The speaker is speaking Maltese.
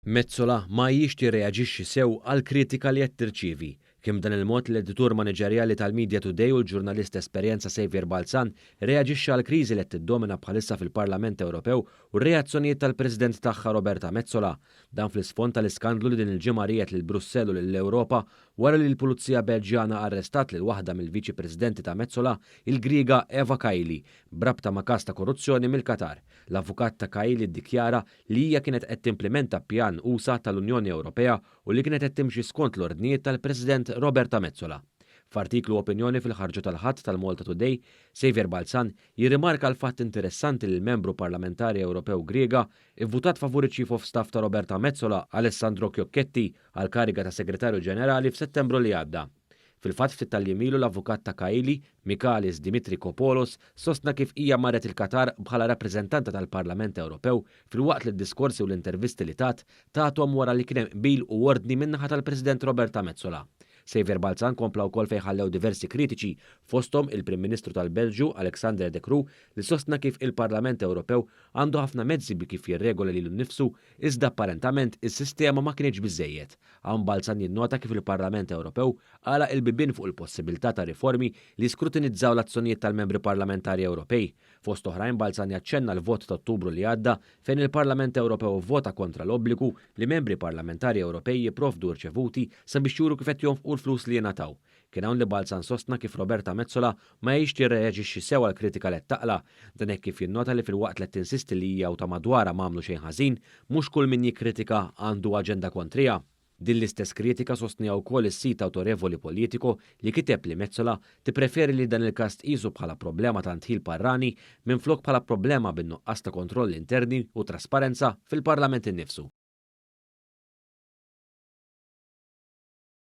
Metsola ma hijiex tirreaġixxi sew għall-kritika li qed tirċievi. Kien b'dan il-mod li l-editur maniġerjali tal-Media Today u l-ġurnalist ta' esperjenza Saviour Balzan reaġixxa għall-kriżi li qed tiddomina bħalissa fil-Parlament Ewropew u r-reazzjonijiet tal-President tagħha Roberta Metsola. Dan fl-isfond tal-iskandlu li din il-ġimgħa riegħed lil Brussell u lill-Ewropa wara li l-Pulizija Belġjana arrestat lil waħda mill-Viċi Presidenti ta' Metsola, il-Griega Eva Kaili, B'rabta ma' każ ta' korruzzjoni mill-Qatar, l-avukat ta' Kaili ddikjara li hija kienet qed timplimenta pjan usa' tal-Unjoni Ewropea u li kienet qed timxi skont l-ordnijiet tal-President Roberta Metsola. F'artiklu opinjoni fil-ħarġu tal-Ħadd tal-Malta Today, Saviour Balzan jirrimarka l-fatt interessanti li l-Membru Parlamentari Ewropew Griega ivvutat favur iċ-Chief of Staff ta' Roberta Metsola, Alessandro Chiocchetti, għall-kariga ta' Segretarju Ġenerali f'Settembru li għadda. Fil-fatt ftit tal-jiem ilu l-avukat ta' Kaili, Michalis Dimitrikopoulos, sostna kif hija marret il-Qatar bħala rappreżentanta tal-Parlament Ewropew filwaqt li d-diskorsi u l-intervisti li tat, tathom wara li kien hemm qbil u ordni min-naħa tal-President Roberta Metsola. Xavier Balzan kompla wkoll fejn ħallew diversi kritiċi, fosthom il-Prim Ministru tal-Belġju, Alexander De Croo, li sostna kif il-Parlament Ewropew għandu ħafna mezzi bi kif jirregola lilu nnifsu Iżda apparentament is-sistema ma kinitx biżżejjed. Hawn Balzan jinnota kif il-Parlament Ewropew għalaq il-bibien fuq il-possibilità ta' riformi li jiskrutinizzaw l-azzjonijiet tal-Membri Parlamentari Ewropej. Fost oħrajn Balzan jaċċenna l-vot ta' Ottubru li għadda fejn il-Parlament Ewropew ivvota kontra l-obbligu li Membri Parlamentari Ewropej jipprovdu rċevuti sabiex juru kif qed jonfqu l-flus li jingħataw. Kien hawn li Balzan sostna kif Roberta Metsola ma hijiex tirreaġixxi sew għall-kritika let taqla'. Dan hekk kif jinnota li filwaqt let tinsisti li hija u ta' madwarha m'għamlu xejn ħażin, mhux kull min jikkritika għandu aġenda kontriha. Din l-istess kritika sostniha wkoll is-sit awtorevoli Politico li kiteb li Metsola tippreferi li dan il-każ tqisu bħala problema ta' ndħil barrani minflok bħala problema bin-nuqqas ta' kontrolli interni u trasparenza fil-Parlament innifsu.